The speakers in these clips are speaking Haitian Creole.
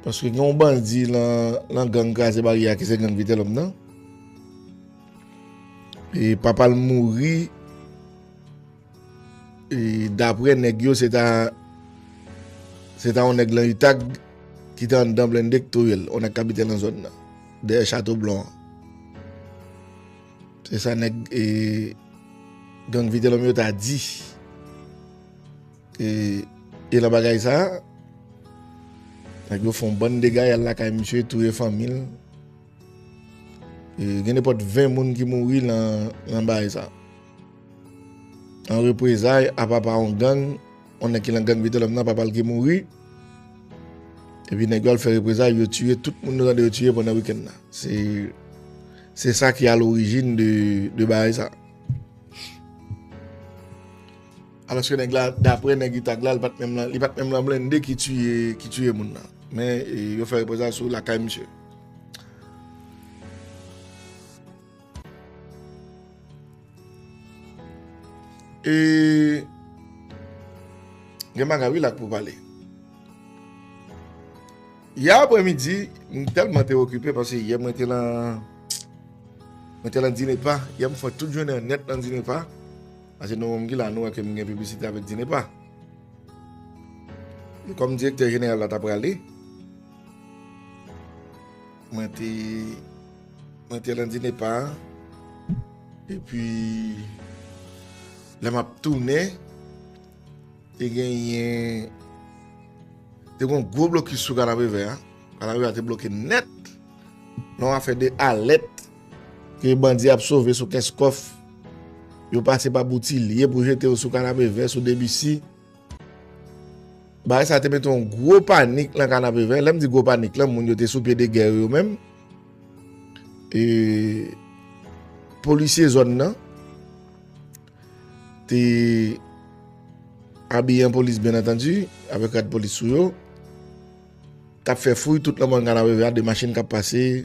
Paske gen yon bandi lan gang kraze baryè a ki se gang Vitelhomme nan. E papa l mouri e dapre nèg yo se ta se ta yon nèg lan utag ki te anndan blende ki touye l. Yon nèg ki abite nan zòn nan. Dèyè chato blan. Se sa nèg e gang Vitelhomme yo ta di. E nan bagay sa, nèg yo fon bann dega yal lakay misye touye fanmil. E gen nepot 20 moun ki mouri nan bagay sa. An reprezay a papa on gang, on nèg ki lan gang Vitelhomme nan papal ki mouri. E pi nèg yo al fè reprezay yo touye tout moun nou tande yo touye pandan wikenn nan. Se sa ki a lorijin de bagay sa. Alòske nèg la, daprè nèg Itag la, li pat menm nan, li pat menm nan blende ki tiye, ki tiye moun nan. Men, yo fè repòtaj sou lakay misye. E, gen bagay wi la k pou pale. Yè aprè midi, m tèlman te okipe, pase yè mwen te lan, mwen te lan Dinepa, yè m fè tout jounen nèt lan Dinepa. Ase nou menm ki la nou wè ke m gen piblisite avèk DINEPA. E kòm direktè jeneral la ta prale, mwen te mwen te lan DINEPA e pi lè m ap tounen te genyen te gen yon gwo blokis sou Kanapevè a. Kanapevè a te bloke nèt nan yon afè de alèt Ke bandi ap sove sou Kenscoff, yo pase pa Boutilye pou jete yo sou Kanapevè, sou Debisi. Bagay sa te mete yon gwo panik nan Kanapevè. Lè m di gwo panik la, moun yo te sou pye de gè yo yo menm. E polisye zòn nan te abiye an polis byen antandi, avèk rad polis sou yo. Tap fè fouy tout nan Manga la Veve a de machin kap pase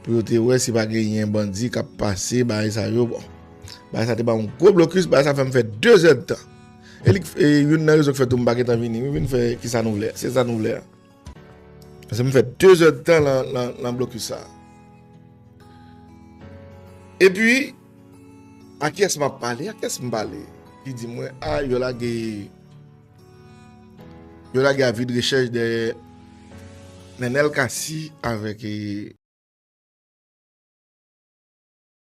pou yo te wè si pa genyen bandi kap pase bagay sa yo bon bagay sa te banm yon gwo blokis bagay sa fèm fè 2 zè de tan e li k e youn nan rezon k fè tou m pa gentan vini m vin fè kisa nou vle se sa nou vle a pase m fè 2 zè de tan lan lan lan blokis sa epi a kiyès map pale a kiyès m pale li di mwen a yo lage. Yo lage avi de rechèch dèyè Nenel Cassy avèk.